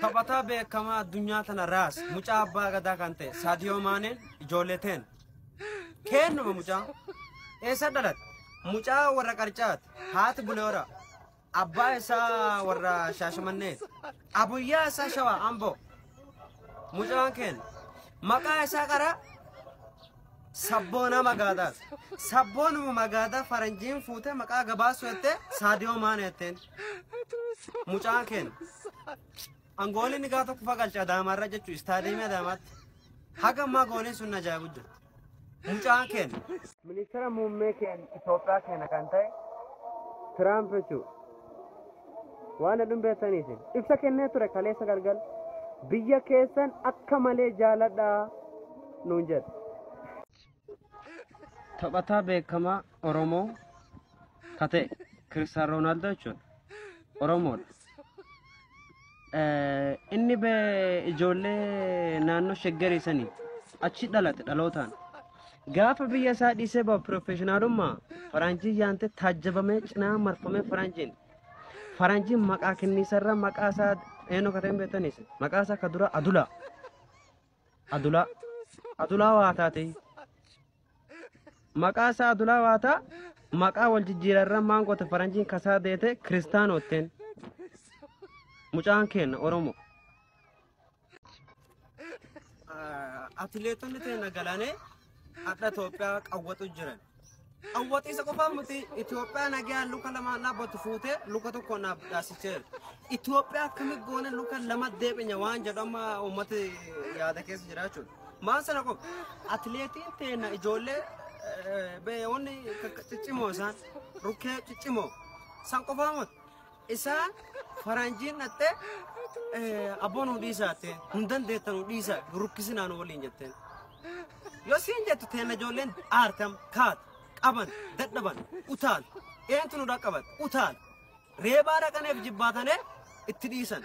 Taphataa beekamaa addunyaa tana raas mucaa abbaa gadaa kan ta'e Saadiyoo Maaneen ijoollee teen. Keennuma mucaa. Eessa dhalate? Mucaa warra qarcaati. Haati buleera. Abbaa isaa warra shaashamanneeti. Abuyyaa isaa shawaa amboo. Mucaan keenya. Maqaa isaa qaraa Sabboonaa magaadaa sabboonuma magaadaa faranjiin fuutee maqaa gabaasuu jettee saadiyoo maana jetteen mucaan keenya an goolii inni gaa tokko fagalcha adaamaarra jechuu istaadiyeemii adaamaatti haga ammaa gooliin sun na ajaa'ibu jirti mucaan keenya. Ministeera muummee keenya Itoophiyaa keenya kan ta'e Tiraamp jechuudha. waan hedduun beektaniif ibsa kennee ture kaleessa galgal biyya keessan akka malee jaaladhaa nuun jedhe. Taphataa beekamaa Oromoo ka ta'e Kiristiyaanoo Roonaaldoo jechuudha. Oromoodha. Inni be ijoollee naannoo shaggarii sanii achi dhalate dhalootaan. Gaafa biyya isaa dhiisee bahu piroofeeshinaalummaa faranjii yaantee taajjabamee cinaa marfamee faranjiin. Faranjiin maqaa kenniisarra maqaa isaa eenyu akka ta'e hin beektanis maqaa isaa ka dura Adulaa. Adulaa. Adulaa waa taatee. maqaa isaa adulaa waataa maqaa wal jijjiirarran maan goote faranjiin kasaa deete kiristaanootteen mucaan keenna oromoo. Atileetonni teena galanee hadha Itoophiyaa qawwaxu jiran. Qawwaxiisa qofaa miti Itoophiyaa nagaa luka lama dhaabbatu fuutee luka tokko naaf dhaasiseera. Itoophiyaa akkami goone luka lama deebinya waan jedhu amma uummati yaada keessa jira jechuudha. Maan sana qofa. Atileetiin teenna ijoollee beeyoonni ciccimoo isaan rukkee ciccimoo san qofaa mot isaan faranjiin dhattee abboo nu dhiisaa jettee nu dandeetta nu dhiisaa rukkisinaa nu waliin jetteen. Yoo siin jettu teenna ijoolleen aartam kaat qaban dadhaban utaal eentu nu dhaqqabat utaal reebaa dhaqaneef jibbaatanee itti dhiisan.